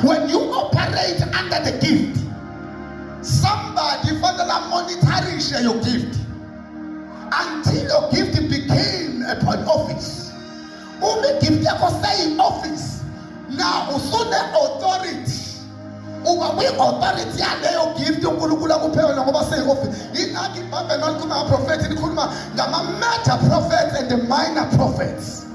When you operate under the gift, somebody fanele monitorishe your gift until your gift became a point office. Uma igift yakho seyi-office na usune-authority uba kwi-authority yaleyo gift unkulunkulu akuphe yona ngoba seyi-office yingakho ibhayibheli malikhuluma ngaprofethi likhuluma ngama-major prophets and the minor prophets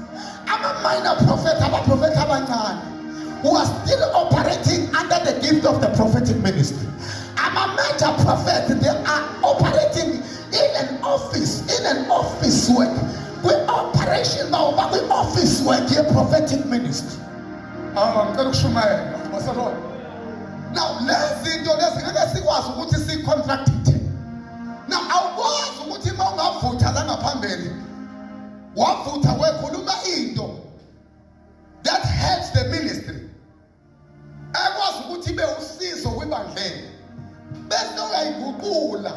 Ama-minor prophet abaprofethi abancane who are still operating under the gift of the prophetic ministry. Ama-major prophet they are operating in an office, in an office work. Kwi-operation bawo bakwi-office work ye-prophetic ministry. Awu, ngicela ukushumayela. Basalona. Now, lezi zinto lezi ngeke sikwazi ukuthi si-contract wavutha wekhuluma into that helps the ministry ekwazi ukuthi ibe usizo kwibandleni bese uyayiguqula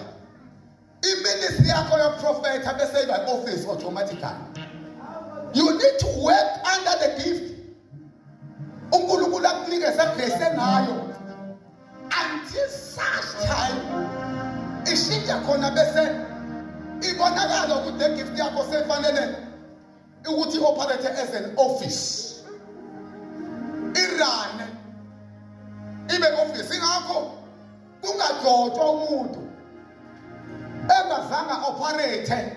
iministry yakho yoprofetha bese iba office automatically you need to work under the gift uNkulunkulu akunikeze grace enayo until such time ishintsha khona bese ibonakala ukuthi le gift yakho sefanele ukuthi operate as an office irane ibe office ingakho kungagcotshwa umuntu engazange operate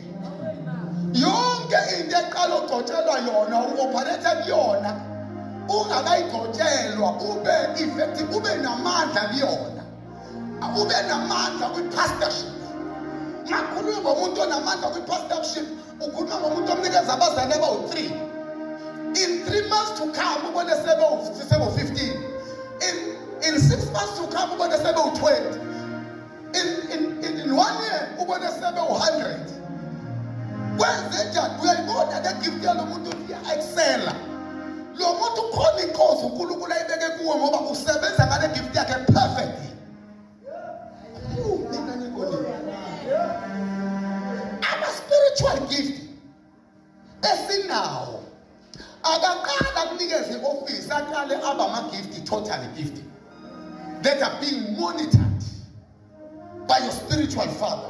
yonke into eqala ogcotshelwa yona u-opharetha kuyona ungakayigcotshelwa ube effective ube namandla kuyona ube namandla kwi-pastorship ngakhulumi ngomuntu onamandla kwi-pastorship ukhuluma ngomuntu omnikeza abazali abawu-three in three months to come ubone sebewu-fifteen in, in six months to come ubone sebewu-twenty in, in, in, in one year ubone sebe u-hundred kwenzenjani uyayibona le gift yalo muntu iya-excela lo muntu ukhona inkosi unkulunkulu ayibeke kuwo ngoba usebenza ngale gift yakhe perfect esinawo akaqala kunikeza i-ofisi aqale aba ama-gifti total gifti that are being monitored by your spiritual father